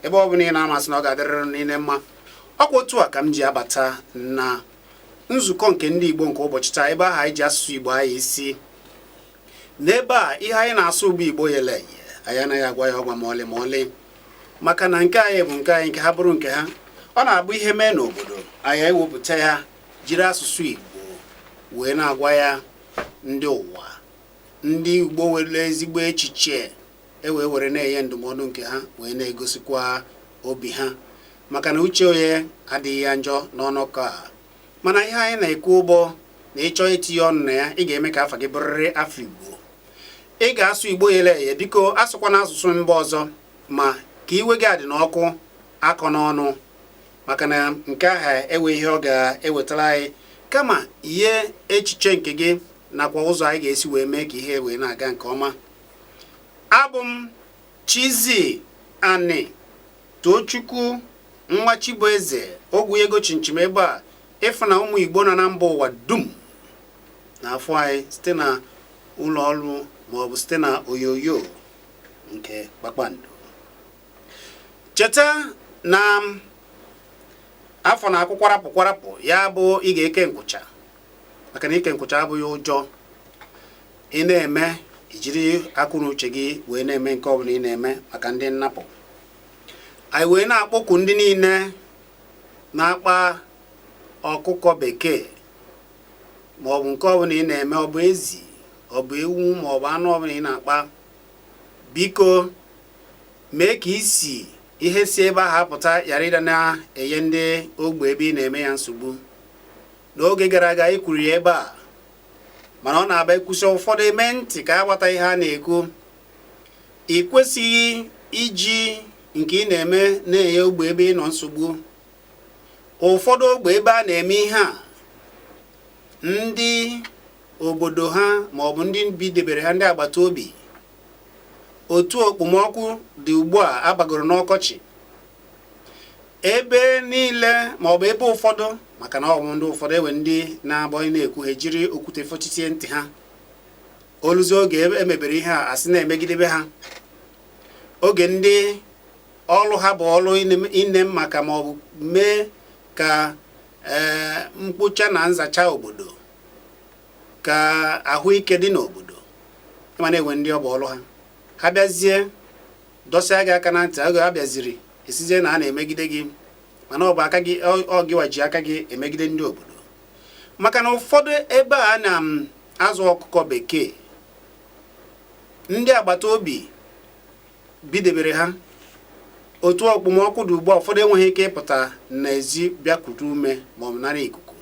ebe ọ bụla ị nọ a m asị na ọ ga-adịrịrị niile mma ọkwa otu a ka m ji abata na nzukọ nke ndị Igbo nke ụbọchị taa ebe ahụ anyị ji asụsụ Igbo anya isi n'ebe a ihe anyị na-asụ bụ Igbo yele anyị anaghị agwa ya ọgwa ma ọlị ma ọlị maka na nke anyị bụ nke anyị nke ha bụrụ nke ha ọ na-abụ ihe mee n'obodo anyị anyị ewepụta ya jiri asụsụ Igbo wee na-agwa ya ndị ụwa ndị Igbo nwere ezigbo echiche ewee were na-enye ndụmọdụ nke ha wee na-egosikwa obi ha maka na uche onye adịghị ya njọ n'ọnọkọ a mana ihe anyị na-ekwu bụ na ị chọọ itinye ọnụ na ya ị ga-eme ka afa gị bụrịrị afa Igbo ị ga-asụ Igbo yele eye biko asụkwana asụsụ mba ọzọ ma ka iwe gị adịna ọkụ akọna ọnụ maka na nke ahụ enwe ihe ọ ga-ewetara anyị kama ihe echiche nke gị nakwa ụzọ anyị ga-esi wee mee ka ihe wee na-aga nke ọma abụ m Chizzy Ani Tochukwu nwa Chibueze ogwu ego chinchim ebe a ị fụ na ụmụ Igbo nọ na mba ụwa dum na-afụ anyị site na ụlọ ọrụ maọbụ site na onyonyo nke kpakpando cheta na afọ na-akwụ kwarapụ kwarapụ ya bụ ị ga-eke nkwụcha maka na ike nkwụcha abụghị ụjọ ị na-eme i jiri akọ na uche gị wee na-eme nke ọbụla ị na-eme maka ndị nnapụ anyị wee na-akpọku ndị niile na-akpa ọkụkọ bekee maọbụ nke ọbụla ị na-eme ọ bụ ezi ọ bụ ewu maọbụ anụ ọbụla ị na-akpa biko mee ka isi ihe si ebe ahụ apụta ghara ịdị na-enye ndị ogbe ebe ị na-eme ya nsogbu n'oge gara aga anyị kwuru ya ebe a mana ọ na-abụ e kwusịa ụfọdụ eme ntị ka a gbata ihe a na-ekwu ị kwesịghị iji nke ị na-eme na-enye ogbe ebe ị nọ nsogbu ụfọdụ ogbe ebe a na-eme ihe a ndị obodo ha ma ọ bụ ndị bidebere ha ndị agbata obi otu okpomọkụ dị ugbu a abagoro n'ọkọchị ebe niile ma ọ bụ ebe ụfọdụ maka na ọ bụ ndị ụfọdụ e nwee ndị na-abụ ị na-ekwu ha ejiri okwute fọchitie ntị ha o luzie oge e mebere ihe ha asị na e megidebe ha oge ndị ọlụ ha bụ ọlụ ine maka ma ọ bụ mee ka e, mkpocha na nzacha obodo ka ahụike dị n'obodo ị ma na e nwere ndị ọ bụ ọlụ ha ha bịazie dọsịa gị aka na ntị oge ha bịaziri ị sịzie na a na-emegide gị mana ọ bụ aka gị ọ gịwa ji aka gị emegide ndị obodo maka na ụfọdụ ebe a na-azụ um, ọkụkọ bekee ndị agbata obi bidebere ha otu okpomọkụ dị ugbu a ụfọdụ enweghị ike ịpụta n'ezi bịa kute ume ma ọ bụ nara ikuku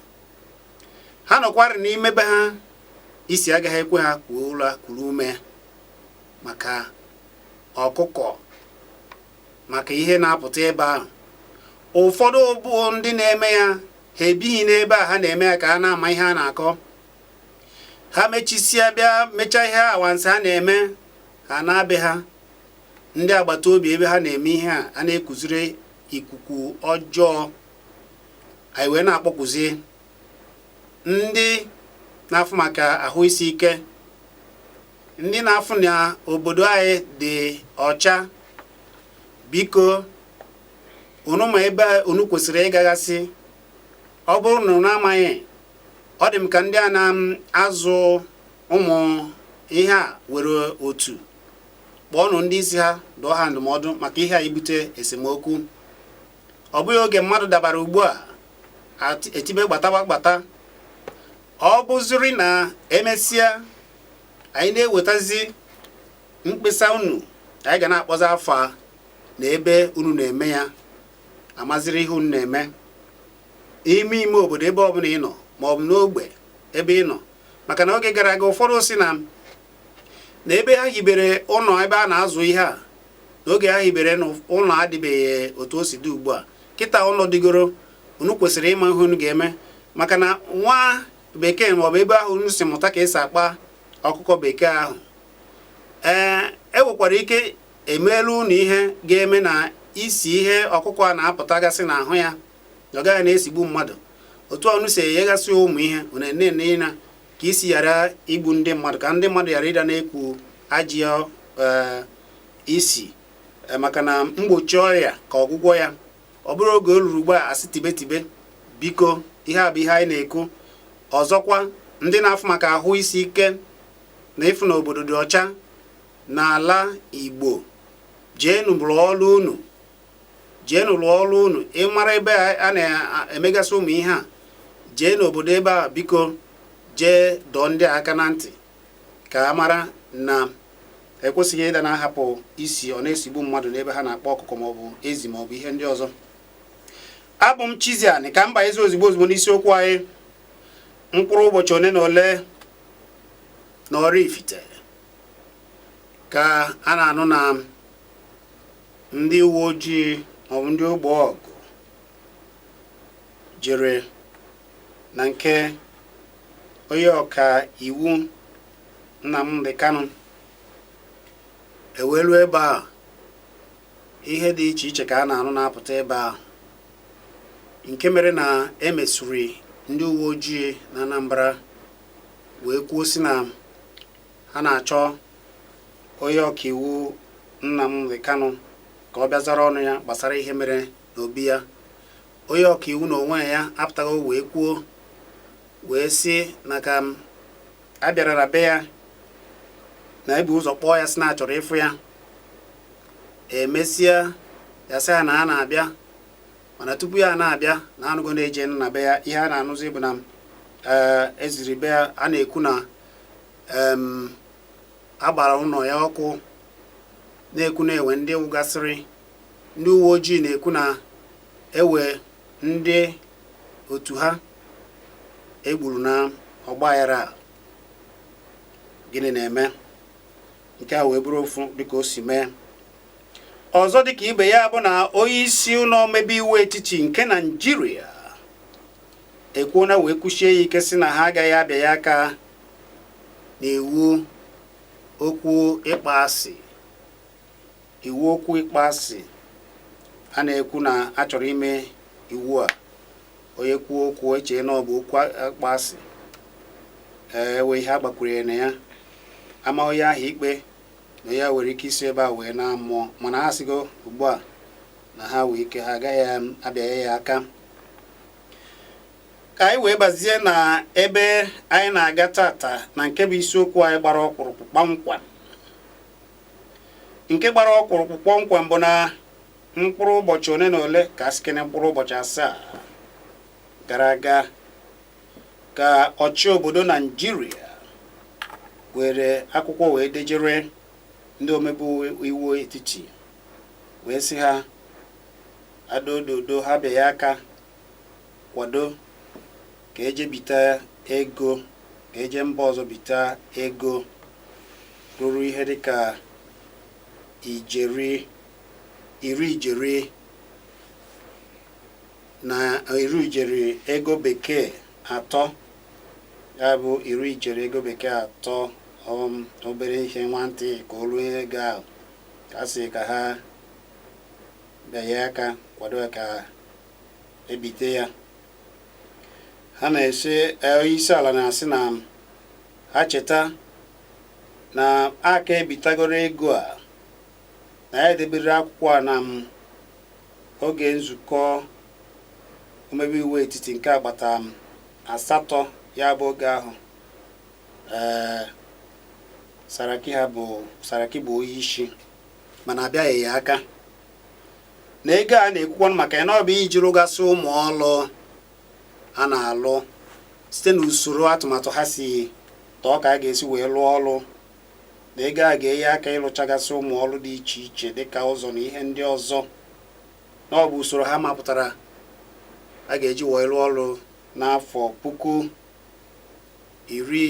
ha nọkwarị n'ime be ha isi agaghị ekwe ha kwuo ụlọ kuru ume maka ọkụkọ maka ihe na-apụta ebe ahụ ụfọdụ bụ ndị na-eme ya ha ebighị n'ebe a ha na-eme ya ka ha na-ama ihe a na-akọ ha mechisịa bịa mechaa ihe awansị ha na-eme ha naa be ha ndị agbata obi ebe ha na-eme ihe a a na-ekuziri ikuku ọjọọ anyị wee na-akpọkuzi ndị na-afụ maka ahụ isi ike ndị na-afụ na obodo anyị dị ọcha biko unu ma ebe unu kwesịrị ịgagasị ọ bụrụ na unu amaghị ọ dị m ka ndị a na-azụ ụmụ ihe a nwere otu kpọọnụ ndị isi ha dụọ ha ndụmọdụ maka ihe a ibute esemokwu ọ bụghị oge mmadụ dabara ugbu a etibe gbatawa gbata ọ bụziri na emesịa anyị na-enwetazi mkpesa unu anyị ga na-akpọzi afa na ebe unu na-eme ya amaziri ihe unu na-eme ime ime obodo ebe ọbụla ị nọ ma ọ bụ n'ogbe ebe ị nọ maka na oge gara aga ụfọdụ sị na na ebe ha hibere ụlọ ebe a na-azụ ihe a n'oge ha hibere na ụlọ adịbeghị otu o si dị ugbu a kịta ụlọ dịgoro unu kwesịrị ịma ihe unu ga-eme maka na nwa bekee maọbụ ebe ahụ unu si mụta ka esi akpa ọkụkọ bekee ahụ ee e nwekwara ike emeela unu ihe ga-eme na isi ihe ọkụkọ a na-apụtagasị n'ahụ ya na ọ gaghị na-esigbu mmadụ otu a unu si enyegasị ụmụ ihe unu na ka isi ghara igbu ndị mmadụ ka ndị mmadụ ghara ịdị na-eku ajọ eh, isi eh, maka na mgbochi ọrịa ka ọgwụgwọ ya ọ bụrụ oge o ruru ugbu a a sị tibe tibe biko ihe a bụ ihe anyị na-ekwu ọzọkwa ndị na-afụ maka ahụ isi ike na ịfụ na obodo dị ọcha n'ala Igbo jeenụ rụọ ọrụ unu jeenụ rụọ ọrụ unu ị mara ebe a na-emegasị ụmụ ihe a jee n'obodo ebe a biko jee dọọ ndị aka na ntị ka a mara na ekwesịghị ịdị na-ahapụ isi ọ na-esigbu mmadụ n'ebe ha na-akpa ọkụkọ maọbụ ezi maọbụ ihe ndị ọzọ abụ m Chiziani ka m bazie ozigbo ozigbo n'isiokwu anyị mkpụrụ ụbọchị ole na ole na Oraifite ka a na-anụ na ndị uwe ojii maọbụ ndị ogbe ọgụ jere na nke onye ọka iwu Nnamdi Kanu ewelu ebe a ihe dị iche iche ka a na-anụ na-apụta ebe a nke mere na e mesịrị ndị uwe ojii na Anambra wee kwuo sị na ha na-achọ onye ọkaiwu Nnamdi Kanu ka ọ bịa zara ọnụ ya gbasara ihe mere n'obi ya onye ọkaiwu na onwe ya apụta wee kwuo wee sị na ka a bịarara be ya na e bu ụzọ kpọọ ya sị na a chọrọ ịfụ ya emesịa ya sị ya na a na-abịa mana tupu ya na-abịa na a nụgo na e jeena be ya ihe a na-anụzi bụ na eziri be ya a na-ekwu na a gbara ụlọ ya ọkụ na-ekwu na e nwe ndị nwụgasịrị ndị uwe ojii na-ekwu na e nwe ndị otu ha egburu na ọgbaghara a gịnị na-eme nke a wee bụrụ ofu dịka o si mee ọzọ dịka ibe ya bụ na onye isi ụlọ omebe iwu etiti nke naijiria ekwuona wee kwusie ya ike sị na ha agaghị abịanye aka n'iwu okwu ịkpọ asị iwu okwu ịkpọ asị a na-ekwu na a chọrọ ime iwu a onye kwuo okwu e chee na ọ bụ okwu ịkpọ asị e nwee ihe agbakwunyere na ya a maa onye ahụ ikpe na ya nwere ike isi ebe a wee naa mmụọ mana ha sịgo ugbu a na ha nwee ike ha agaghị abịanye ya aka ka anyị wee bazie na ebe anyị na-aga tata na nke bụ isiokwu anyị gbara ọkpụrụkpụ kpọmkwem nke gbara ọkpụrụkpụ kpọmkwem bụ na mkpụrụ ụbọchị ole na ole ka a sịkene mkpụrụ ụbọchị asaa gara aga ka ọchị obodo naijiria were akwụkwọ wee dejere ndị omebe iwu etiti wee sị ha adododo ha bịa ya aka kwado ka e je bita ego ka e je mba ọzọ bita ego ruru ihe dịka ijeri iri ijeri na iri ijeri ego bekee atọ ya bụ iri ijeri ego bekee atọ um, obere ihe nwantị ka o ruo ego ahụ ka a sị ka ha bịanye aka kwado ya ka e bite ya ha na-asị e, onye isi ala na-asị na ha cheta na a ka-ebitagoro ego a na ya edebere akwụkwọ a na oge nzukọ omebe iwu etiti nke agbata asatọ ya bụ oge ahụ Ee, Saraki ha bụ Saraki bụ onye isi mana a bịaghị ya aka na ego a na-ekwukwa maka ya na ọ bụ iji rụgasị ụmụ ọlụ a na-alụ site na usoro atụmatụ ha si tọọ ka a ga-esi wee lụọ ọlụ na ego a ga-enye aka ịlụchagasị ụmụ ọlụ dị iche iche dịka ụzọ na ihe ndị ọzọ na ọ bụ usoro ha mapụtara a ga-eji wee lụọ ọlụ n'afọ puku iri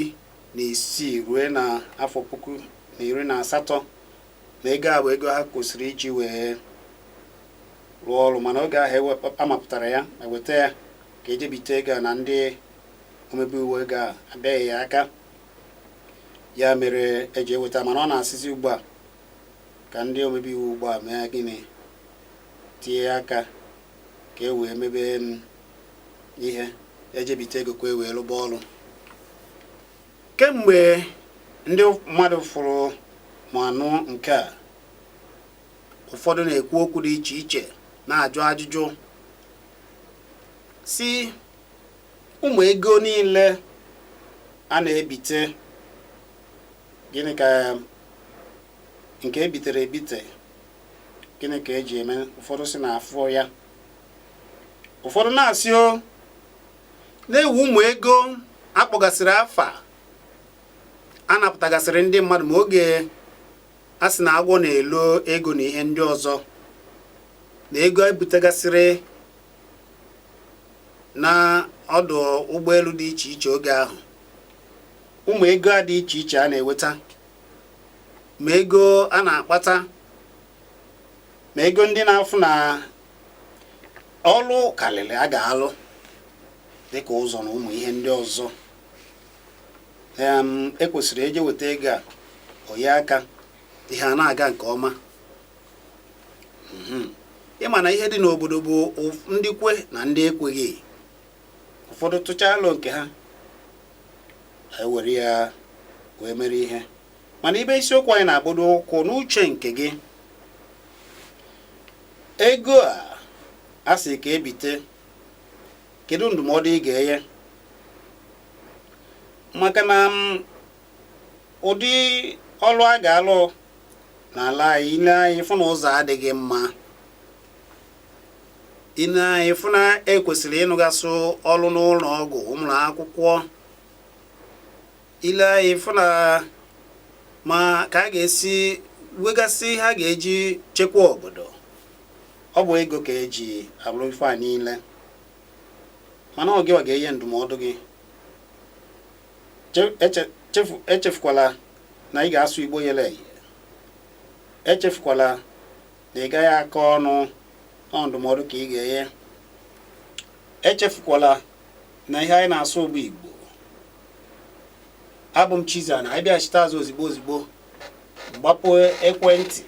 na isii ruo na afọ puku na iri na asatọ na ego a bụ ego ha kwesịrị iji wee rụọ ọrụ mana oge ahụ a mapụtara ya e weta ya ka e je bite ego na ndị omebe iwu oge ahụ abịaghị ya aka ya mere eji eweta mana ọ na-asịzi ugbu a ka ndị omebe iwu ugbu a mee gịnị tinye aka ka e wee mebe em ihe e je bite ego ka e wee rụba ọrụ kemgbe ndị mmadụ fụrụ ma nụ nke a ụfọdụ na-ekwu okwu dị iche iche na-ajụ ajụjụ sị ụmụ ego niile a na-ebite gịnị ka nke e bitere ebite gịnị ka e ji eme ụfọdụ sị na afọ ya ụfọdụ na-asị onee ebe ụmụ ego a kpọgasịrị afa a napụtagasịrị ndị mmadụ ma oge a sị na agwọ na-elo ego na ihe ndị ọzọ na ego e butegasịrị na ọdụ ụgbọelu dị iche iche oge ahụ ụmụ ego a dị iche iche a na-eweta ma ego a na-akpata ma ego ndị na-afụ na ọlụ karịrị a ga-alụ dịka ụzọ na ụmụ ihe ndị ọzọ ekwesịrị eje weta ego a o nye aka ihe a na-aga nke ọma mhm. ị ma na ihe dị n'obodo bụ ndị kwe na ndị ekweghị ụfọdụ tụchaa alo nke ha anyị ewere ya wee mere ihe mana ibe isiokwu anyị na-agbado ụkwụ n'uche nke gị ego a a sị ka e bite kedu ndụmọdụ ị ga-enye maka na mm, ụdị ọlụ a ga-alụ n'ala anyị i lee anya ị fụ na ụzọ adịghị mma i lee anya ị fụ na e kwesịrị ịlụgasị ọlụ n'ụlọ ọgwụ ụmụ ụlọ akwụkwọ i lee anya ị fụ na ma ka a ga-esi wegasị ihe a ga-eji chekwa obodo ọ bụ ego ka eji alụ ife a niile mana ọ gịwa ga-enye ndụmọdụ gị echefukwala na ị ga-asụ igbo yele echefukwala na ị gaghị akọ ọnụ ọ ndụmọdụ ka ị ga-enye echefukwala na ihe anyị na-asụ bụ igbo abụ m Chizzy na anyị bịachite azụ ozigbo ozigbo m gbapụ ekwentị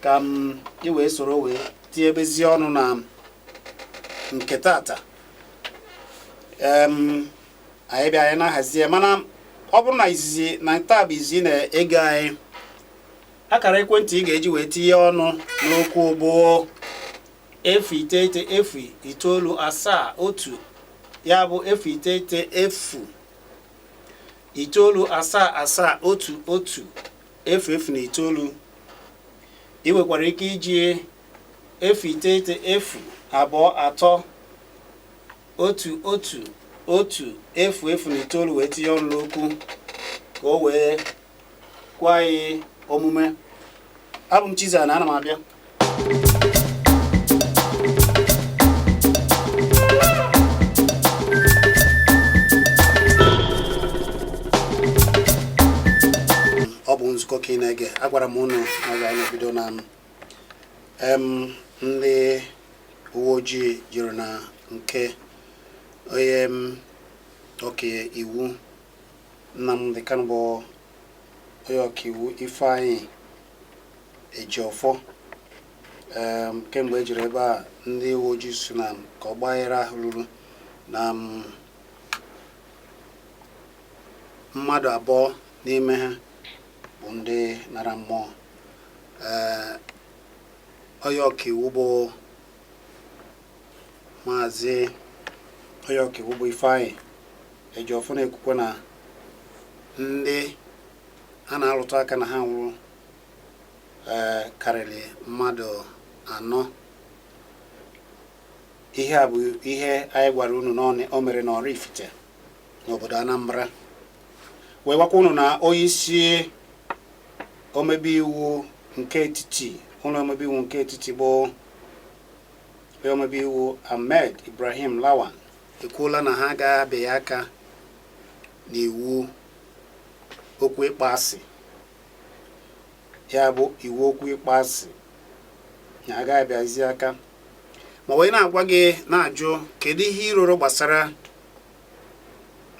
ka m ị wee soro wee tinyebezie ọnụ na nke tata anyị bịa anyị na-ahazi ya mana ọ bụrụ na izizi na taa bụ izizi ị na-ege anyị akara ekwentị ị ga-eji wee tinye ọnụ n'okwu bụ efu iteghete efu itoolu asaa otu ya bụ efu iteghete efu itoolu asaa asaa otu otu efu efu na itoolu ị nwekwara ike iji efu iteghete efu abụọ atọ otu otu otu efu efu na itoolu wee tinye ọnụ n'okwu ka o wee kwe anyị omume abụ m Chizzy na ana m abịa ọ bụ nzukọ ka ị na-ege agwara m ụnụ na ga na-ebido na ndị uwe ojii jiri na nke onye ọka iwu Nnamdi Kanu bụ onye ọkaiwu Ifeanyi Ejiofor um, kemgbe e jiri ebe a ndị uwe ojii sị na ka ọgbaghara ahụ ruru na um, mmadụ abụọ n'ime ha bụ ndị nara mmụọ ee eh, onye ọkaiwu bụ Maazị onye ọkaiwu bụ Ifeanyị Ejiofor na-ekwukwa na ndị a na-arụtụ aka na ha nwụrụ ee karịrị mmadụ anọ ihe a bụ ihe anyị gwara unu na ọ- o mere n'Oraifite n'obodo Anambra wee gwakwa unu na onye isi omebe iwu nke etiti ụlọ omebe iwu nke etiti bụ Onye omebe iwu Ahmed Ibrahim Lawan ekwuola na ha agaghị abịaghị aka n'iwu okwu ịkpọasị ya bụ iwu okwu ịkpọasị na agaghị abịazi aka ma wee na-agwa gị na-ajụ kedu ihe i roro gbasara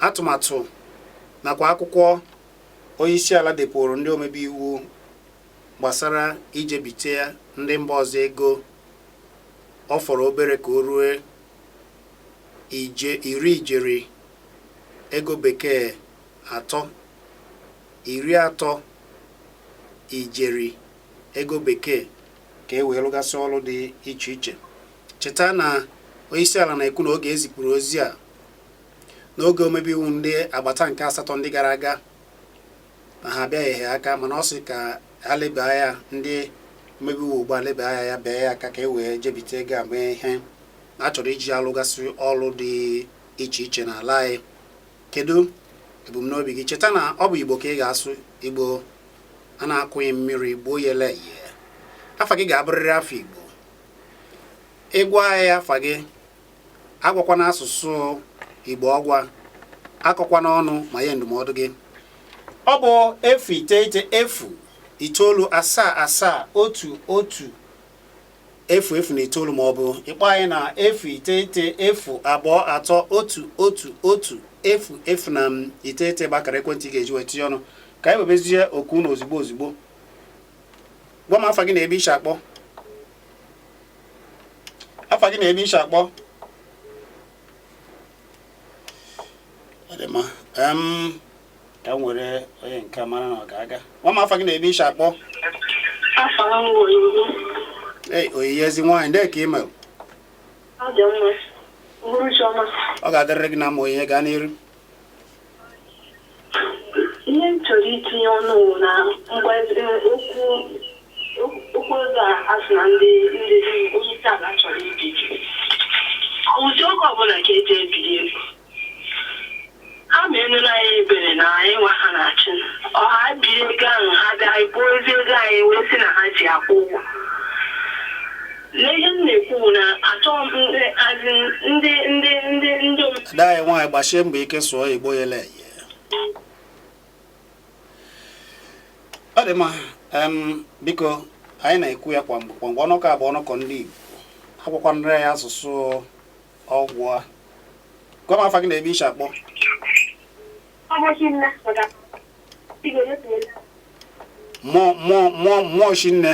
atụmatụ nakwa akwụkwọ onye isi ala depụrụ ndị omebe iwu gbasara ije bite ndị mba ọzọ ego ọ fọrọ obere ka o rue ije iri ijeri ego bekee atọ iri atọ ijeri ego bekee ka e wee lụgasị ọrụ dị iche iche cheta na onyeisiala na-ekwu na oge e zipụrụ ozi a n'oge omebe iwu ndị agbata nke asatọ ndị gara aga na ha abịaghị aka mana ọ sị ka ha leba anya ndị omebe iwu ugbu a leba ya anya bie ya aka ka e wee jebite ego a mee ihe a chọrọ iji alụgasị ọrụ dị iche iche n'ala anyị kedu ebumnobi gị cheta na ọ bụ igbo ka ị ga-asụ igbo a na-akụghị mmiri gbuo ya ele afa gị ga-abụrịrị afa igbo ị gwa anyị afa gị agwakwana asụsụ igbo ọgwa akọkwana ọnụ ma nye ndụmọdụ gị ọ bụ efu iteghete efu itoolu asaa asaa otu otu efu efu na itoolu ma ọ bụ ịkpọ anyị na efu iteghete efu abụọ atọ otu otu otu efu efu na iteghete bụ akara ekwentị ị ga-eji wee tinye ọnụ ka anyị webezie oku na ozugbo ozugbo gwa m afa gị na ebe i shi akpọ afa gị na ebe i shi akpọ ọ dị mma Em, ka m were onye nke a mara na ọ ga-aga gwa m afa gị na ebe i shi akpọ Afa m bụ Onyinye. ei Onyinye ezi nwaanyị ndị ka ị mere Ọ dị mma. Uhuruchi ọma. ọ ga-adịrịrị gị na mma Onyinye gaa n'iru Ihe m chọrọ itinye ọnụ wụ na mgbe e, okwu okwu okwu ego a a sị na ndị ndị onye isi ala chọrọ ibi ọ wụzi oge ọbụla ka eji ebiri ego ha meenụrụ anyị ebere na anyị nwa ha na-achị ọ ha biri ego ahụ ha bịa anyị kpụọ ezi ego anyị wee sị na ha ji akwụ ụgwọ N'ihe m na-ekwu bụ na achọghị m ndị azị ndị ndị ndị ndị om- ada anyị nwaanyị gbasie mbọ ike sụọ igbo yele eye ọ dị mma em, biko anyị na-ekwu ya kwa mgbe kwa mgbe ọnọkọ a bụ ọnọkọ ndị igbo agwakwanara ya asụsụ ọgwa gwa m afa gị na ebe i shi akpọ Ọbọchị nna pụta. Igwe n'otu mmụọ mmụọ mmụọ mmụọ shinne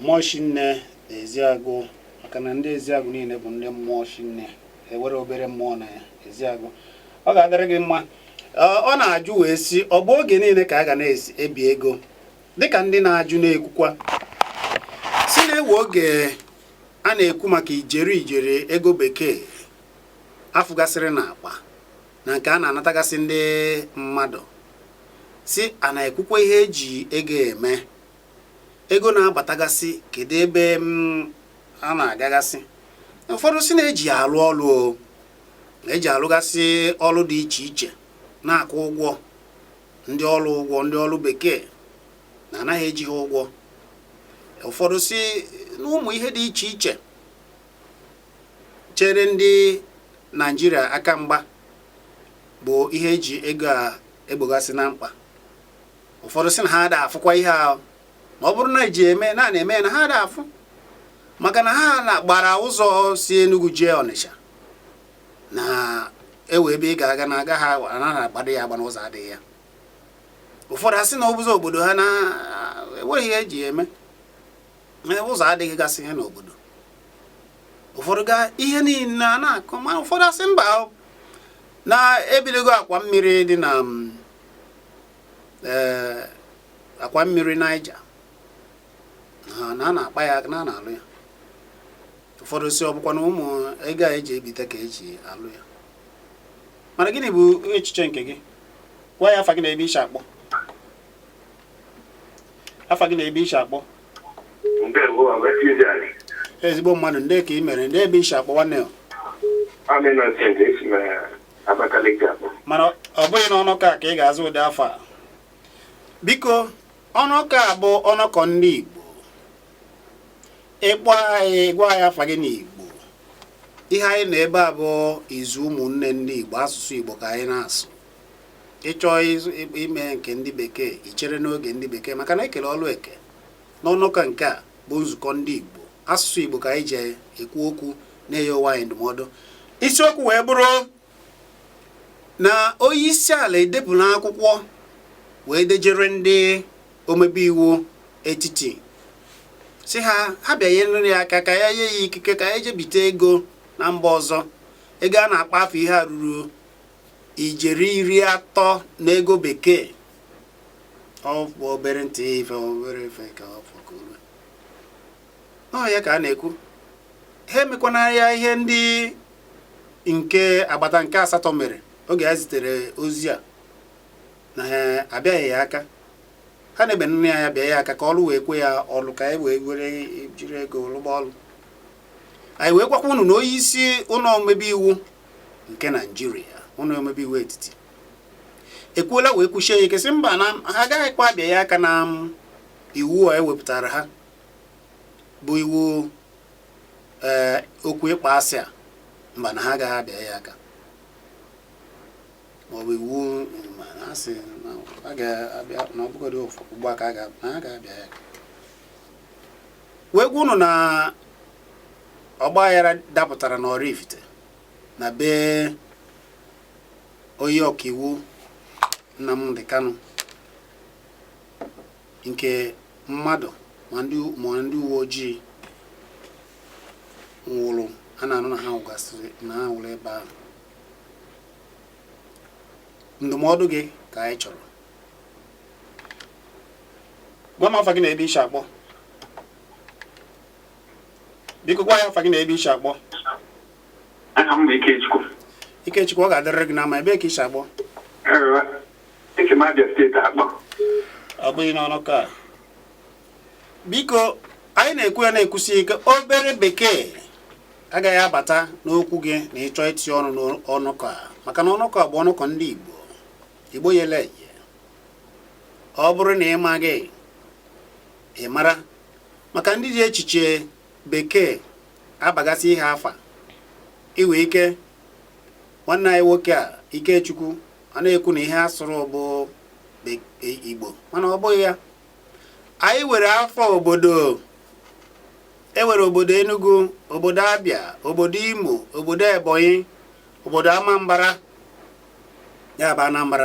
mmụọ shinne na eziagụ maka na ndị eziagụ niile bụ ndị mmụọ shinne enwerọ obere mmụọ na eziagụ ọ ga-adịrị gị mma ọ na-ajụ wee sị ọ bụ oge niile ka a ga na-ebi ego dịka ndị na-ajụ na-ekwukwa sị na enwe oge a na-ekwu maka ijeri ijeri ego bekee a fụgasịrị na akpa na nke a na-anatagasị ndị mmadụ sị a na-ekwukwa ihe eji ego eme ego na-abatagasị kedu ebe mm, a na-agagasị ụfọdụ sị na eji ya alụ ọlụ o na eji alụgasị ọlụ dị iche iche na-akwụ ụgwọ ndị ọlụ ụgwọ ndị ọlụ bekee na anaghị eji ha ụgwọ ụfọdụ sị na ụmụ ihe dị iche iche chere ndị naijiria aka mgba bụ ihe eji ego a egbogasị na mkpa ụfọdụ sị na ha ada afụkwa ihe ahụ ma ọ bụrụ na eji eme na na-eme na ha ada afụ maka na ha na gbara ụzọ si Enugu jee Ọnịsha na enwe ebe ị ga-aga na aga ha anaghị agbado ya agba na ụzọ adịghị ya ụfọdụ asị na ụzọ obodo ha na enweghị ihe eji eme ụzọ adịghị gasị ihe n'obodo ụfọdụ ga ihe niile a na-akọ ma ụfọdụ asị mba na ebiligo akwa mmiri dị na mm, ee akwa mmiri Niger na a na-akpa ya na a na-alụ ya ụfọdụ sị ọ bụkwa na ụmụ ego a eji ebite ka eji alụ ya mana gịnị bụ echiche nke gị gwa anyị afa gị na ebe i shi akpọ afa gị na ebe i shi akpọ ezigbo mmadụ ndee ka ị mere ndee ebe i shi akpọ nwanne ya Abakaliki akpọ mana ọ bụghị n'ọnụkọ a ka ị ga-aza ụdị afa a biko ọnụkọ a bụ ọnụkọ ndị Igbo ị kpọọ anyị gwa anyị afa gị n'Igbo ihe anyị nọ ebe a bụ izu ụmụnne ndị Igbo asụsụ Igbo ka anyị na-asụ ị chọọ ịzụ- ị- ime nke ndị bekee i chere n'oge ndị bekee maka na e kele ọlụ eke n'ọnụkọ a nke a bụ nzukọ ndị Igbo asụsụ Igbo ka anyị ji ekwu okwu na-enye onwe anyị ndụmọdụ isiokwu wee bụrụ na onye isi ala edepụla akwụkwọ wee dejere ndị omebe iwu etiti sị ha ha bịanyere ya aka ka ya nye ya ikike ka ya je bite ego na mba ọzọ ego a na-akpọ afa ya ruru ijeri iri atọ na ego bekee ọ bụ obere ntị ife obere ife ka ọ fọ ka o ruo ọ ya ka a na-ekwu ha emekwana ya ihe ndị nke agbata nke asatọ mere oge ha zitere ozi a na ha abịaghị ya aka ha neba anya bịa ya aka ka ọlụ wee kwe ya ọlụ ka anyị wee were jiri ego lụgba ọlụ anyị wee gwakwa unu na onye isi ụlọ omebe iwu nke naijiria ụlọ omebe iwu etiti ekwuola wee kwusie ya ike sị mba na ha agaghịkwa abịa ya aka na iwu a e wepụtara ha bụ iwu ee eh, okwu ịkpa asị a mba na ha agaghị abịa ya aka maọbụ iwu mana a sị na a ga-abịa na ọ bụgodị ugbu a ka a ga-abịa ya aka wee gwa unu na ọgba aghara dapụtara na Oraifite na be onye ọkaiwu Nnamdi Kanu nke mmadụ ma ndị ma ndị uwe ojii nwụrụ a na-anụ na ha nwụgasịrị na ha nwụrụ ebe ahụ ndụmọdụ gị ka anyị chọrọ gwa m afa gị na ebe i si akpọ biko gwa anyị afa gị na ebe i si akpọ aha m bụ Ikechukwu Ikechukwu ọ ga-adịrịrị gị mma ebee ka i si akpọ Ee, esi m Abia steeti akpọ ọ bụghị n'ọnụkọ a biko anyị na-ekwu ya na-ekwusi ike obere bekee agaghị abata n'okwu gị ma ị chọọ itinye ọnụ n'ọnụkọ a maka na ọnụkọ a bụ ọnụkọ ndị Igbo Igbo yele eye ọ bụrụ na ị maghị ị mara maka ndị ji echiche bekee abagasị ihe afa iwe ike nwanne anyị nwoke a Ikechukwu a na-ekwu na ihe asụrụ bụ e, igbo mana ọ bụghị ya anyị were afa obodo enwere obodo enugu obodo abịa obodo imo obodo ebonyi obodo amambara ya bụ anambra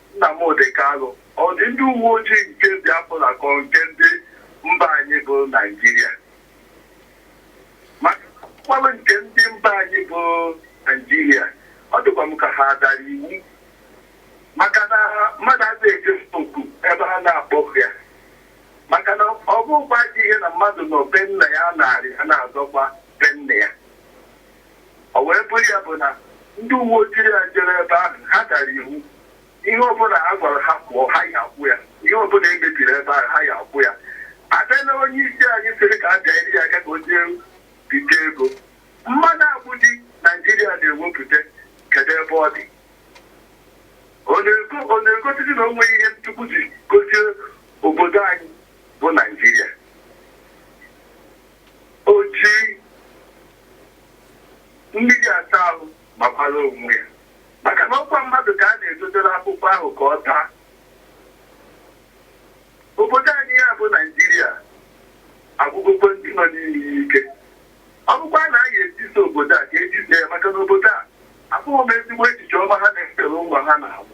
Nnamdị Kanụ, Ọ dị ndị uweojii nke Biafra ka ọ nke ndị mba anyị bụ Naịjirịa? Maka na ọ bụkwalụ nke ndị mba anyị bụ Naịjirịa, ọ dịkwa m ka ha dara iwu maka na mmadụ adịghị eje oku ebe ha na-akpọghị ya maka na ọ bụghịkwa ajọ ihe na mmadụ nọ be nna ya na-arị a na-azọkwa be nna ya O wee bụrụ ya bụ na ndị uweojii a jere ebe ahụ, ha dara iwu. Ihe ọbụla a gwara ha kwụọ, ha ya akwụ ya. Ihe ọbụla e mebiri ebe ahụ, ha ya akwụ ya. A bịa n'onyeisi anyị sịrị ka a bịanyere ya aka ka o jee bite ego. Mmanụ agbịdị Naịjirịa na-ewepụta, kedụ ebe ọ dị? Ọ na-egosizi na o nweghị ihe Chukwu ji gozie obodo anyị bụ Naịjirịa? O ji mmiri asa ahụ makwara onwe ya, maka na ọ kwa mmadụ ka a na-edotere akwụkwọ ahụ ka ọ taa. Obodo anyị a bụ Naịjirịa agwụgokwa ndị nọ n'ime ya ike. Ọ bụkwa na a ga-etisa obodo a, ka e tisa ya, maka na obodo a, ahụghị m ezigbo echiche ọma ha na-echere ụmụ ha na-amụ.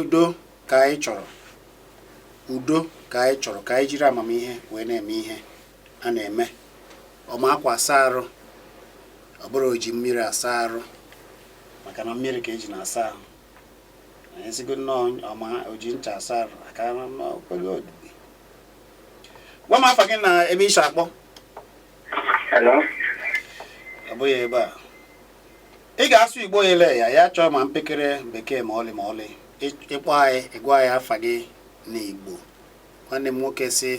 udo ka anyị chọrọ udo ka anyị chọrọ ka anyị jiri amamihe wee na-eme ihe a na-eme ọma akwa asa arụ ọ bụrụ oji mmiri asa arụ maka na mmiri ka eji na-asa ahụ anyị sigo nnọọ ọma oji ncha asa arụ aka n'okwere odibo gwa m afa gị na ebe i si akpọ ọ bụghị ebe a ị ga-asụ igbo ele anyị achọghị ma mpekere bekee ma ọlị ma ọlị ị kpọọ anyị ị gwa anyị afa gị na igbo nwanne m nwoke si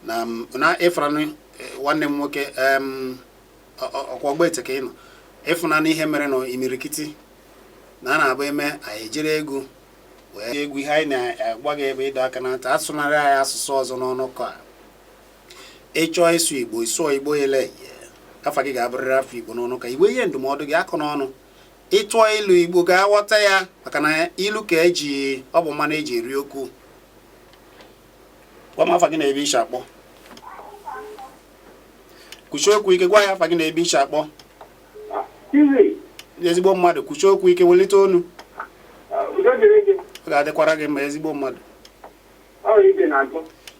na na ịfụranụ e, nwanne m nwoke ọkwa ogbete ka ị nọ ịfụnanụ ihe mere na imirikiti na a na-abụ eme anyị ejiri egwuregwu ihe anyị na-agwa gị bụ ịdọ aka na ntị asụnara anyị asụsụ ọzọ n'ọnụ ka ị chọọ ịsụ igbo ị sụọ igbo ele afa gị ga-abụrịrị afa igbo n'ọnụ ka i nwee ihe ndụmọdụ gị akọ n'ọnụ ị tụọ ilu igbo ga-aghọta ya maka na ilu ka eji ọ bụ mmanụ eji eri okwu gwa m afa gị na ebe i si akpọ kwusie okwu ike gwa anyị afa gị na ebe i si akpọ ezigbo mmadụ kwusie okwu ike welite onu ọ ga-adịkwara gị mma ezigbo mmadụ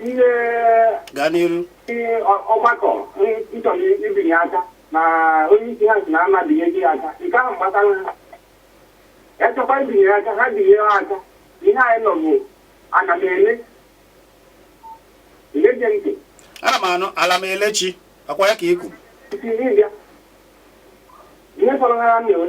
ihe gaa n'iru ihe ọ- ọgbakọ nchọrọ ibinye aka na onye isi ha si na ama binye gị aka nke ahụ gbasara ha ya chọkwa ibinye aka ha binye ha aka ihe anyị nọ bụ ana m ele ele gee ntị ana m anụ ala m elechi akwa ya ka ikwu isi ihe bịa ihe fọrọ ha na-ewe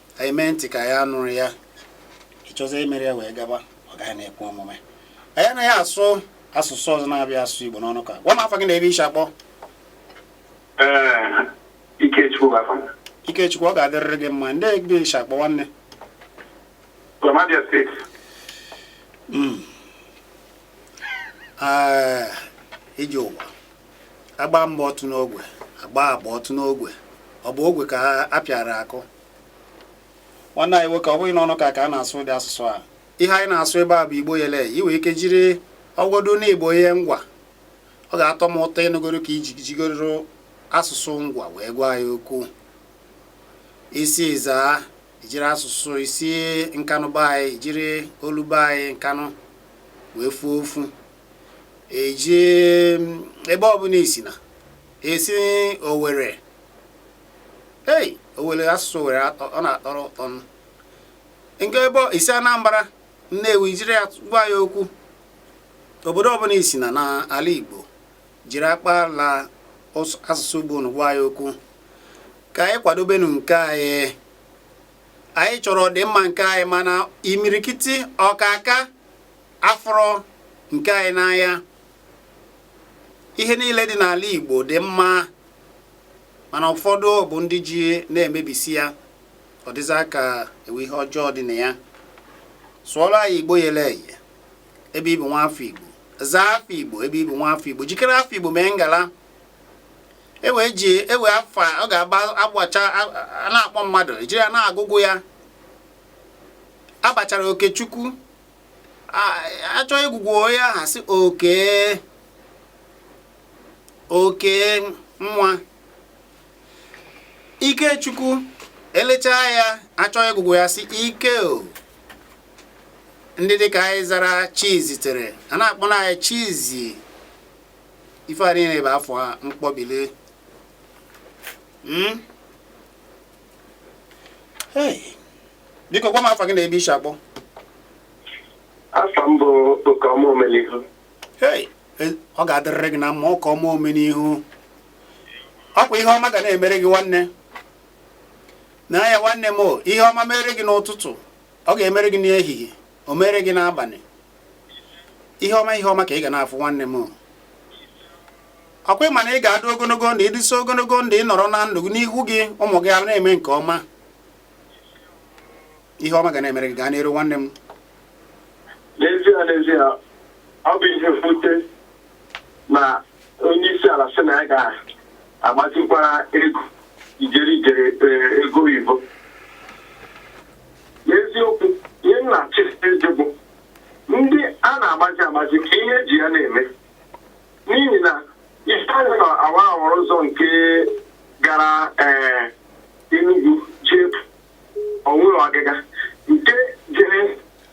anyị mee ntị ka ya nụrụ ya ịchọzi imere ya wee gaba ọ gaghị na-ekwe omume anyị anaghị asụ asụsụ ọzọ na-abụghị asụsụ Igbo n'ọnụ ka gwa m afa gị na ebe ishi akpọ Ikechukwu ọ ga-adịrịrị gị mma ndị ebe ishi akpọ nwanne hmm. ah, ije ụwa agbaa mbụ ọ tụọ n'ogwe agbaa abụa ọ tụọ n'ogwe ọ bụ ogwe ka a pịara akụ nwanne anyị nwoke ọ bụghị n'ọnụ ka ka a na-asụ ụdị asụsụ a ihe anyị na-asụ ebe a bụ igbo yele i nwee ike jiri ọgwọdụ na igbo ihe ngwa ọ ga-atọ m ụtọ ịnụgoro ka iji jigoro asụsụ ngwa wee gwa anyị okwu isi ezza ijiri asụsụ isi nkanụ be anyị jiri olu be anyị nkanụ wee fuo ofu eji ebe ọbụla isi na isi owere i were asụsụ owere ọ na-atọrọ ụtọ nke ebe isi anambra nnewi jiri ya gwa anyị okwu obodo ọbụla isi na n'ala igbo jiri akpala asụsụ igbo unu gwa anyị okwu ka anyị kwadobenu nke anyị anyị chọrọ ọdịmma nke anyị mana imirikiti ọkaka afụrọ nke anyị n'anya ihe niile dị n'ala Igbo dị mma mana ụfọdụ bụ ndị ji na-emebisi ya ọ dịza ka enwe ihe ọjọọ dị na ya sụọrọ anyị Igbo yere eye ebe ịbụ nwa afọ Igbo zaa afa Igbo ebe ịbụ nwa afọ Igbo jikere afa Igbo mee ngala enwezi enwe afa a ga-aba abacha na-akpọ mmadụ ejiri ya na-agụgụ ya abachara Okechukwu achọ ịgụgụ ya a sị oke oke nwa ikechukwu elechaa ya achọ ịgụgụ ya sị ike o ndị dịka anyị zara chizitere a na-akpọ na anyị chizi ife a niile bụ afa mkpọbili hmm? biko gwa m afa gị na ebe i si akpọ afa m bụ Okeọma Omenihu e, ọ ga-adịrịrị gị na mma Okeọma Omenihu ọkwa ihe ọma ga na-emere gị nwanne na ya nwanne m ihe ọma mere gị n'ụtụtụ ọ ga-emere gị n'ehihie o mere gị n'abalị ihe ọma ihe ọma ka ị ga na-afụ nwanne m ọkwa ị ma na ị ga-adị ogologo ndụ ị dịsie ogologo ndụ ị nọrọ na ndụ n'ihu gị ụmụ gị a na-eme nke ọma ihe ọma ga na-emere gị gaa n'iru nwanne m n'ezie n'ezie ọ bụ ihe mwute na onye isi ala sị na ya ga-agbazikwara ego ijeri ijeri eh, ego oyibo n'eziokwu ihe m na-achọ ịjụ bụ ndị a na-agbazi agbazi ka ihe e ji ya na-eme n'ihi na i lee anya n'awara awara ụzọ nke gara ee Enugu jee o nweghị ọgịga nke jere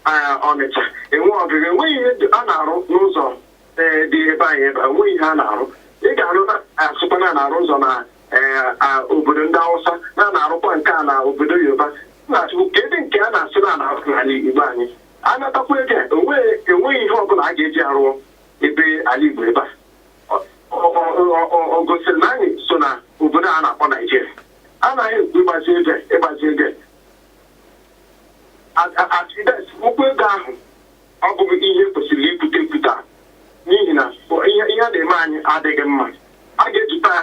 ee, Ọnịcha enweghị ọgịga enweghị ihe dị- a na-arụ n'ụzọ ee, dị ebe anyị ebe a, enweghị ihe a na-arụ ị ga-anụ na a sịkwa na a na-arụ ụzọ na ee, a, obodo ndị Awụsa na a na-arụkwa nke a na obodo Yoruba na-ajụkwa kedu nke a na-asị na a na-arụ n'ala Igbo anyị a natakwa ego a, enweghị enweghị ihe ọbụla a ga-eji arụọ ebe ala Igbo ebe a Ọ- ọ- ọ- ọ- o gosiri na anyị so na obodo a na-akpọ Naijiria anaghị ekwu ịgbazi ego a, ịgbazi ego a. A- a- accident ịkwụ ego ahụ ọ bụghị ihe kwesịrị ikwute ekwute n'ihi na ihe ihe a na-eme anyị adịghị mma a ga-ejikwa ya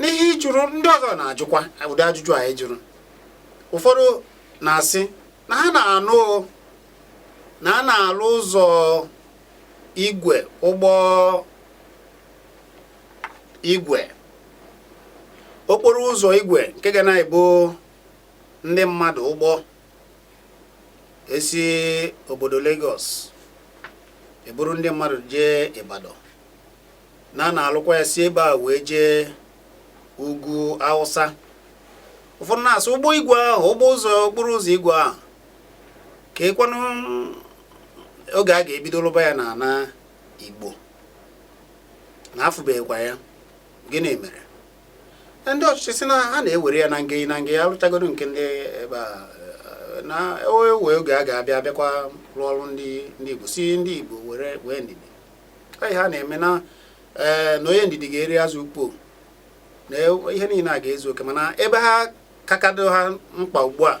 n'ihe ị jụrụ ndị ọzọ na-ajụkwa ụdị ajụjụ anyị jụrụ ụfọdụ na-asị na ha na-anụ na a na-alụ ụzọ igwe ụgbọ igwe okporo ụzọ igwe nke ga na-ebu ndị mmadụ ụgbọ esi obodo Lagos eburu ndị mmadụ jee Ibadan na a na-alụkwa ya si ebe a wee jee ugwu Awụsa ụfọdụ na-asị ụgbọ igwe ahụ ụgbọ ụzọ okporo ụzọ igwe ahụ kee kwanụ oge a ga-ebido lụba ya na ana Igbo na afụbeghịkwa ya gịnị mere ndị ọchịchị sị na ha na-ewere ya na nge na nge a lụchagodu nke ndị ebe a na e nwe oge a ga-abịa abịakwa rụọ ọrụ ndị Igbo sị ndị Igbo were nwee ndidi ihe ha na-eme na ee na onye ndidi ga-eri azụ ukpo na ihe niile a ga-ezu oke mana ebe ha kakado ha mkpa ugbu a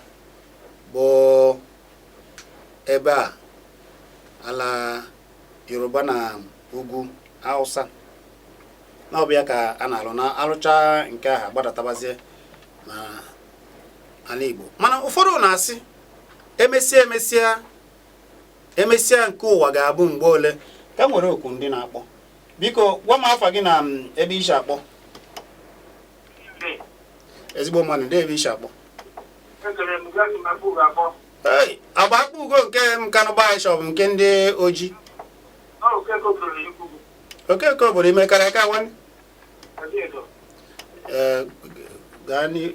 bụ ebe a ala yoruba na ugwu hausa na ọ bụ ya ka a na-arụ na arụcha nke ahụ gbadatabazie na ala igbo mana ụfọdụ na-asị emesịa emesịa emesịa nke ụwa ga-abụ mgbe ole ka m were oku ndị na-akpọ biko gwa m afa gị na mm, ebe i si akpọ ezigbo mmadụ ndị ebe i si akpọ agba akpugo nke nkanụ bishọp nke ndị oji okeke obodo i mekarịa ka nwanne eh, gaa n'ihu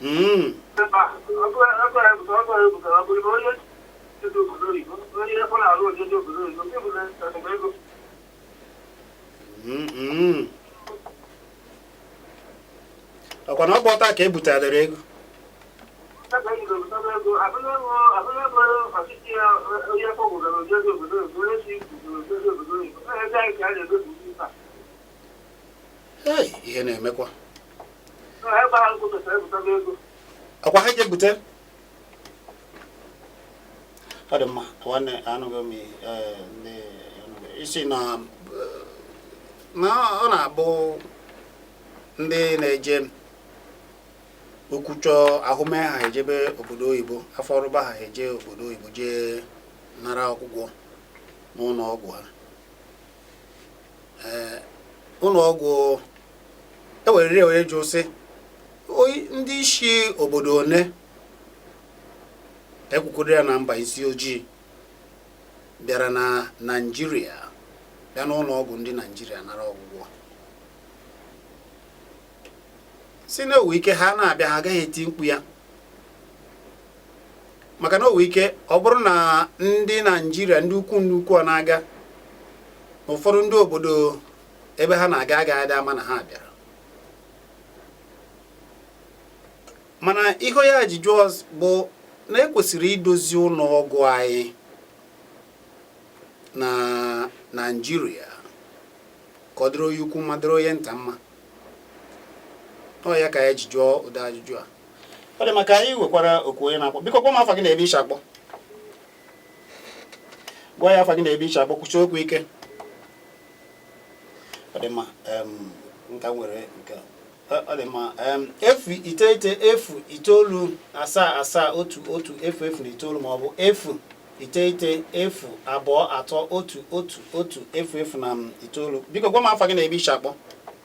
Mm. Mm, mm. ọkwa na ọ bụ ọta ka e butadere ego ihe na-emekwa ọkwa ha je bute ọ dị mma nwanne anụghị m eh, i sị na ọ na-abụ ndị na-eje okwu chọọ ahụ mee ha ejebe obodo oyibo afọ rụba ha eje obodo oyibo jee nara ọgwụgwọ n'ụlọ ọgwụ ha ụlọ ọgwụ e werere were jụọ sị ndị isi obodo one ekwukwuru ya na mba isi ojii bịara na naijiria bịa n'ụlọ ọgwụ ndị naijiria nara ọgwụgwọ sị na o nwe ike ha na-abịa ha agaghị eti mkpu ya maka na o nwe ike ọ bụrụ na ndị naijiria ndị ukwu ndị ukwu a na-aga n'ụfọdụ ndị obodo ebe ha na-aga agaghị adị ama na ha bịara mana ihe ya ji jụọ bụ na ekwesịrị idozi ụlọ ọgwụ anyị na naijiria ka ọ dịrị onye ukwu mma dịrị onye nta mma na ọ ya ka ya ji jụọ ụdị ajụjụ a ọ dị mma ka anyị nwekwara oku onye na-akpọ biko gwa m afa gị na ebe i shi akpọ gwa ya afa gị na ebe i shi akpọ kwushie okwu ike ọ dị mma nka nwere nke ọ dị mma efu iteghete efu itoolu asaa asaa otu otu efu efu na itoolu ma ọ bụ efu iteghete efu abụọ atọ otu otu otu efu efu na itoolu biko gwa m afa gị na ebe i shi akpọ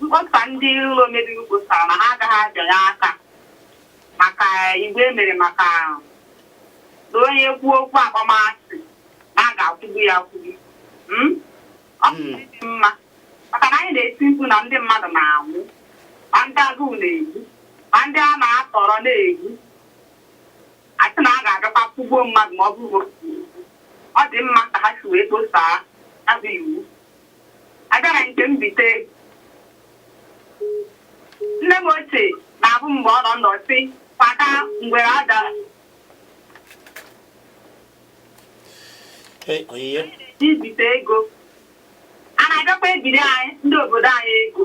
Mkpọsa ndị ụlọ omebe iwu kpọsara na ha agaghị abịanye aka maka iwu e mere maka na onye kwuo okwu akpọmasị na a ga-akwụgbu ya akwụgbu ọ dị mma maka na anyị na-eti mkpu na ndị mmadụ na-anwụ ma ndị agụụ na-egbu ma ndị a na-atọrọ na-egbu a sị na a ga-agakwa kwụgbuo mmadụ ma o kwuo okwu. ọ dị mma ka ha si wee kposaa ya bụ iwu A bịa na nke mbite nne m ochie na-abụ mgbe ọ nọ ndụ sị kwada ngwere ada ibite ego a na-agakwa ebiri anyị ndị obodo anyị ego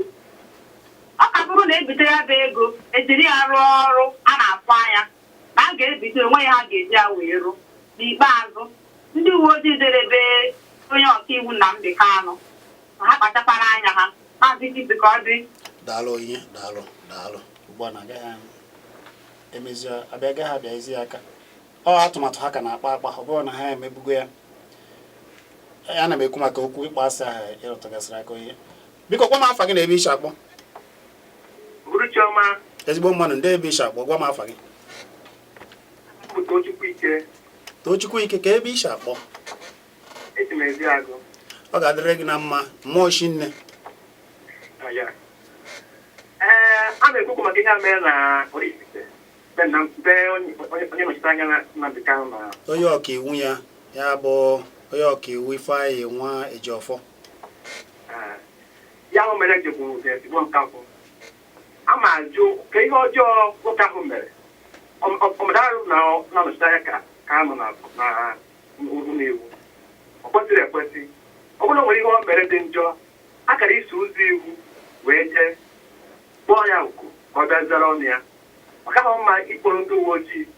ọ ka bụrụ na e bite ya bụ ego e jiri ya rụọ ọrụ a na-afụ anya na a ga-ebite o nweghị ihe a ga-eji ya wee rụ. N'ikpeazụ, ndị uweojii jere be onye ọkaiwu Nnamdi Kanu ha kpachakwara anya ha. Maazị Idris ka ọ dị. Daalụ onye daalụ daalụ. Ugbu a na agaghị emezi agaghị abịanyezi aka ọ atụmatụ ha ka na-akpa akpa ọ bụrụ na ha emebugo ya ana m ekwu maka okwu ịkpọ asị ahụ ị rụtụgasịrị aka onye biko kpọọ m afa gị na ebe i shi akpọ ezigbo mmadụ ndee ebe i shi akpọ gwa m afa gị tochukwu ike kee ebe i shi akpọ ọ ga-adịrị gị na mma mmụọ chi nne a na-ekwu okwu maka ihe a mere na onye ọka iwu ya ya bụ onye ọka iwu ifeanyị nwa ejiọfọ Ihe ahụ mere ji bụ ezigbo nkakwụ. A ma ajụ kee ihe ọjọọ nwoke ahụ mere. Ọmụdarụ na na-anọchite anya ka Kanu na na ụlọ iwu. Ọ kwesịrị ekwesị. Ọ bụrụ na o nwere ihe o mere dị njọ, a kara iso ụzọ iwu wee jee kpọọ ya oku ka ọ bịa zara ọnụ ya. Ọ kaghị mma ịkpọrọ ndị uwe ojii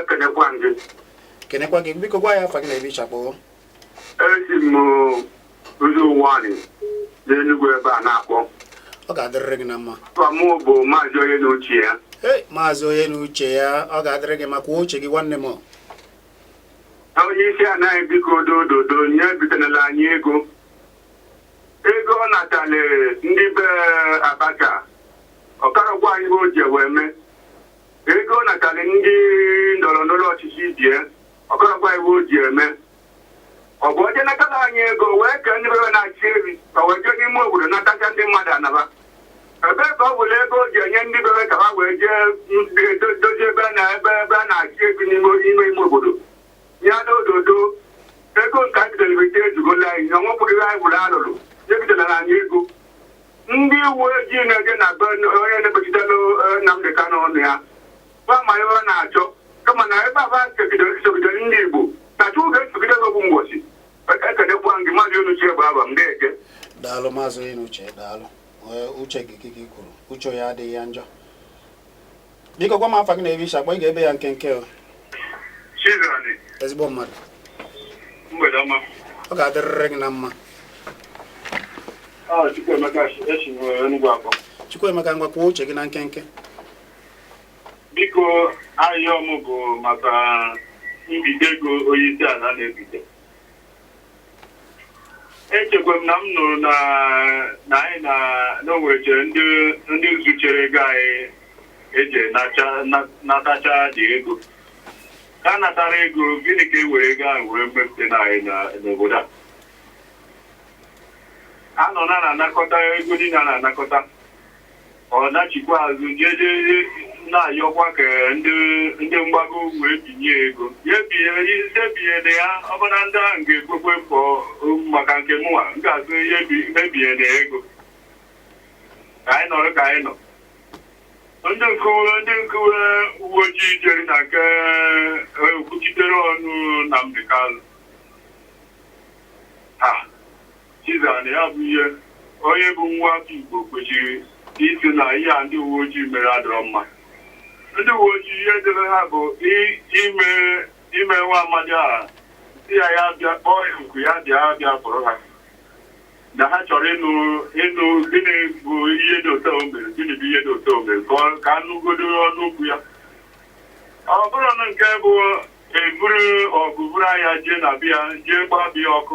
ekenekwa m gị kenekwa gị biko gwa anyị afa gị na ebe isi akpọ esi m Ụzọ Ụwanị n'Enugwu ebe a na-akpọ ọ ga-adịrịrị gị na mma afa m bụ maazị onye na uche ya Hey, maazị onye na uche ya ọ ga-adịrị gị mma kwuo uche gị nwanne m na onye isi ana anyị biko dododo nya ebitenala anyị ego ego ọ natale ndị be Abacha ọ karọ gwa anyị ife o ji wee mee Ego ọ natara ndị ndọrọ ndọrọ ọchịchị ibe ya ọ karọ gwa anyị ife o ji eme ọ bụ o je natara anyị ego wee kee ndị be fa na-achị efi ka wee jee n'ime obodo natacha ndị mmadụ ana fa ebe ka ọ bụla ego o ji enye ndị be fa ka ha wee jee m- do- dozie ebe a na ebe ebe a na-achị efi n'ime ime ime obodo ya na dodo ego nke e bidoro bite ezugola anyị na ọnwepụghị anyị bụrụ alụrụ ebitenala anyị ego ndị uwe ojii na-eje na be onye na-ekpechitela Nnamdị Kanụ ọnụ ya gwa ma ihe ọ na-achọ kama na ebe a fa sogidere ndị Igbo na Chukwu ga-esogide gị otu mbọchị ekenekwa gị maazị onye na uche ya bụ afa m na-eje daalụ maazị onye na uche ya daalụ uche gị ka i kwuru uche onye adịghị ya njọ biko gwa m afa gị na ebe isi akpọ ị ga-ebe ya nkenke o ezigbo mmadụ ọ ga-adịrịrị gị na mma ah, Chukwuemeka ngwa kwuo uche gị na nkenke biko ahịa ọmụ bụ maka mbite ego onye isi ala na-ebite echekwa m na m nụrụ na na anyị na na o nwechere ndị ndị zuchere ego anyị eji nacha na- natacha ndị ego ka a natara ego gịnị ka e were ego ahụ wee mepụta na anyị na- n'obodo a a nọ na a na-anakọta ego niile a na-anakọta ọ nachikwa azụ jeje na-ayọkwa ka ndị ndị mgbago wee binye ego ya binye ị sị ebinyere ya ọ bụ na ndị ahụ ga-ekwekwe mkpọ maka nke mụnwa m ga-asị ebi- ebinyena ego ka anyị nọrọ ka anyị nọ ndị nke uwe ndị nke uwe ojii jere na nke eh, okwuchitere ọnụ Nnamdị Kanụ ha Chizara na ya bụ ihe onye bụ nwa afọ Igbo kwesịrị ịsị na ihe a ndị uwe ojii mere adịrọ mma. Ndị uwe ojii ihe dịrị ha bụ ime ime nwa amadi a sị ya ya bịa kpọọ ya oku ya bịa bịa kpọrọ ha na ha chọrọ ịnụ ịnụ gịnị bụ ihe dị otu o mere gịnị bụ ihe dị otu o mere ka a nụgodu ọnụ okwu ya ọ bụrọ na nke bụ e buru ọgụ buru agha jee na be ya jee gbaa be ya ọkụ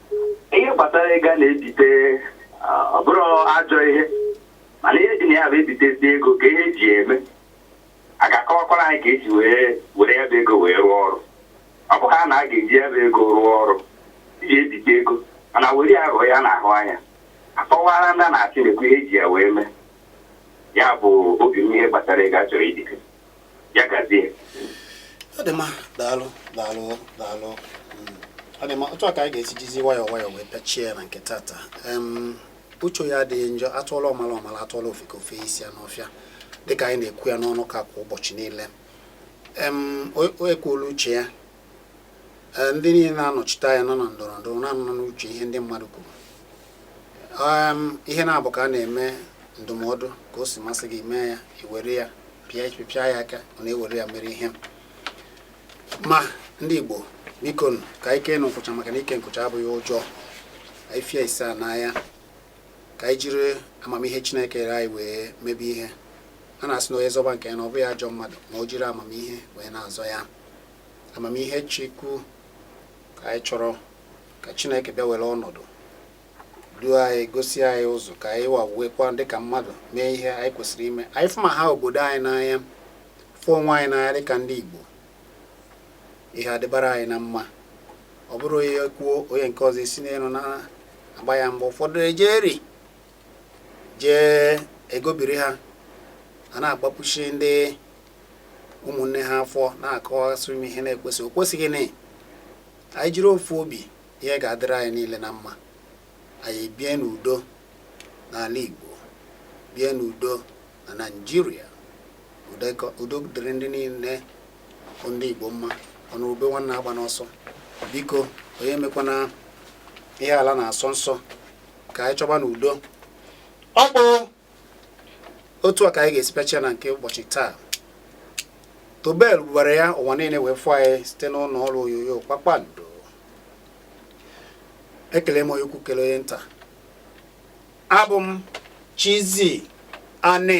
ihe gbasara ego a na-ebite ah, ọ bụrọ ajọ ihe mana ihe dị na ya bụ ebitezi ego ka ihe eji ya eme a ga-akọwakwara anyị ka eji wee were ya bụ ego wee rụọ ọrụ ọ bụ ha na a ga-eji ya bụ ego rụọ ọrụ iji ebite ego mana were ya rụọ ihe a na-ahụ anya akọwara ndị a na-achị nekwa ihe eji ya wee mee ya bụ obi m ihe gbasara ego a chọrọ ibite ya gazie ọ dị mma daalụ daalụ daalụ ọ dị mma otu a ka anyị ga-esi jizi nwayọọ nwayọọ wee pịachie ya na nke tata Em, uche ya adịghị njọ atụọla ọmala ọmala atụọla ofeke o fe isi ya n'ọfịa dịka anyị na-ekwu ya n'ọnọkọ a kwa ụbọchị niile em o- o ekwuola uche ya Ee, ndị niile na-anọchite anya nọ na ndọrọ ndọrọ na-anọ n'uche ihe ndị mmadụ kwuru ihe na-abụ ka a na-eme ndụmọdụ ka o si masị gị mee ya iwere ya pịa pịa ya aka ọ na-ewere ya mere ihe ma ndị Igbo biko ka anyị kee nụ nkwụcha maka na ike nkwụcha abụghị ụjọ ifia ise a n'anya ka anyị jiri amamihe Chineke nyere anyị wee mebe ihe a na-asị na onye zọba nke ya na ọ bụghị ajọ mmadụ ma o jiri amamihe wee na-azọ ya amamihe Chukwu ka anyị chọrọ ka chineke bịa were ọnọdụ duo anyị gosi anyị ụzọ ka anyị wawekwa dịka mmadụ mee ihe anyị kwesịrị ime anyị fụma ha obodo anyị n'anya fụ onwe anyị n'anya dịka ndị igbo ihe adịbara anyị na mma ọ bụrụ onye kwuo onye nke ọzọ esi n'elu na-agba ya mgbe ụfọdụ ejeri jee egobiri ha a na-agbapụsị ndị ụmụnne ha afọ na-akọwasị ime ihe na-ekwesị o kwesịghị na anyị jiri ofu obi ihe ga-adịrị anyị niile na mma anyị bie n'udo n'ala Igbo bie n'udo na Naịjirịa udo dịrị ndị niile bụ ndị Igbo mma ọ nụ ube nwanne agbana ọsọ biko onye emekwana ihe ala na-asọ nsọ ka anyị chọba nụ udo ọ bụ otu a ka anyị ga-esi pịachie na nke ụbọchị taa tobe lụwara ya ụwa niile wee fụ anyị site n'ụlọ ọrụ onyonyo kpakpando ekele m onye ukwu kele onye nta abụ m chizzy ani